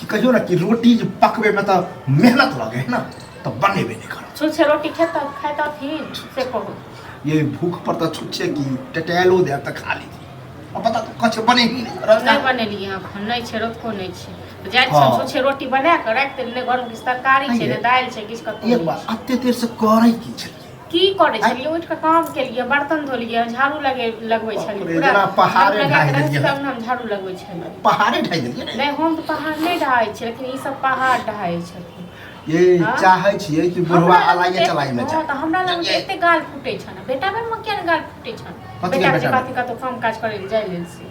कि कहियो ना कि रोटी जे पकबे में तो मेहनत लगे है ना तो बनेबे नहीं कर छुच्छे रोटी खेत खात थी से कहू ये भूख पर तो छुच्छे की टटैलो दे तो खा ली अब बता तो कछ बने ही नहीं करत नहीं बनेली हम नहीं छे रोको नहीं छे तो जाय हाँ। छे छुच्छे रोटी बना के रख दे ने गरम किस तरकारी छे ने दाल छे किस का एक बार अत्ते देर से करे की छे की करै आँय? छलियै उठि कऽ काम केलियै बर्तन धोलियै झाड़ू लगे लगबै बाप छलियै रे, पूरा जेना पहाड़े झाड़ू लगा ढाहि कऽ रखि देलियै। तब ने हम झाड़ू लगबै छलियै पहाड़े ढाइ देलियै ने नहि हम तऽ पहाड़ नहि ढाहै छियै लेकिन ई सब पहाड़ ढाहै छथिन ये हाँ? चाहै छियै कि बुढ़वा हमरा लग अलाइए एते- चलाइ में हँ, जाए तऽ हमरा लग तऽ एते गाल फूटै छन बेटा बेर में किया ने गाल फूटै छन कथी के बेटा बेटा के बेर? बात कतौ काम काज करै लए जाइ लेल से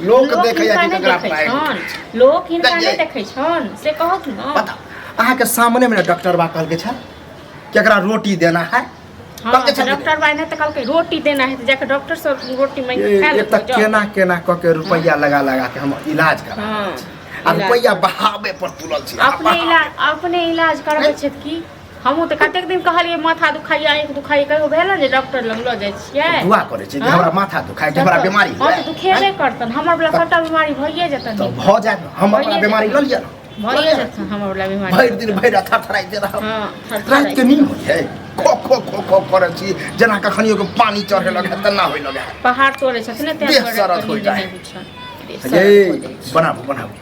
लोक लोक देखैए हिनका कि नहि ककरा देखै पाइ छनि लोक हिनका नहि देखियै। देखै छनि से कहत ने पता अहाँके सामने में डॉक्टर बा कहलके छल केकरा रोटी देना है हँ कहलके छल डॉक्टर बाई ने तऽ कहलकै रोटी देना है तऽ जाके डॉक्टर से रोटी मांगि कऽ खा ये लेतै तक केना केना कऽ के रुपैआ लगा लगा के हम इलाज करा हँ आ रुपैआ बहावे पर तुलल छी अपने इलाज अपने इलाज करबै छथि की हमहूँ तऽ कतेक दिन कहलियै माथा दुखाइए आँखि दुखाइए कहियो भेल ने जे डॉक्टर लग लऽ जाइ छियै दुआ करै छै जे हमरा माथा दुखाइ छै हमरा बीमारी हँ तऽ दुखेबे करतन हमर बला सभटा बीमारी भइए जेतन तऽ भऽ जायत ने हमर बला बीमारी लऽ लिअ ने भइए जेतन हमर बला बीमारी भरि दिन भरि रात थरथराइ दे रहब हँ राति के नींद होइ छै खो खो खो खो करै छी जेना कखनियो के पानी चढ़े लगे है तेना होय लगे है पहाड़ तोड़े छथिन ने तें देह दुआरे सरद कनी होइ जाइ। देह बुझल। देह सरद ये हो जाइ छै। बनाबू बनाबू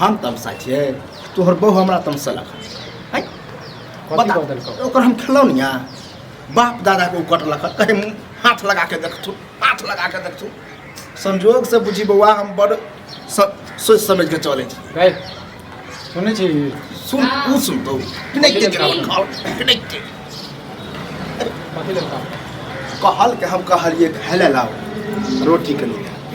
हम तमसा छियै तोहर बहू हमरा तमसेलक हँ हैं? कथी बता कऽ देलकौ? ओकर हम खेलौनिया बाप दादा के उकट लख कहे मुँह हाथ लगा के देखथु हाथ लगा के देखथु संजोग से बुझी बौआ हम बड़ स- सोच समझ के चले छी रे सुनै छी सुन उ सुनतो नहीं के जवाब खाओ नहीं के कथी लेलका कहल के हम कहलिए हेले लाओ रोटी के लिए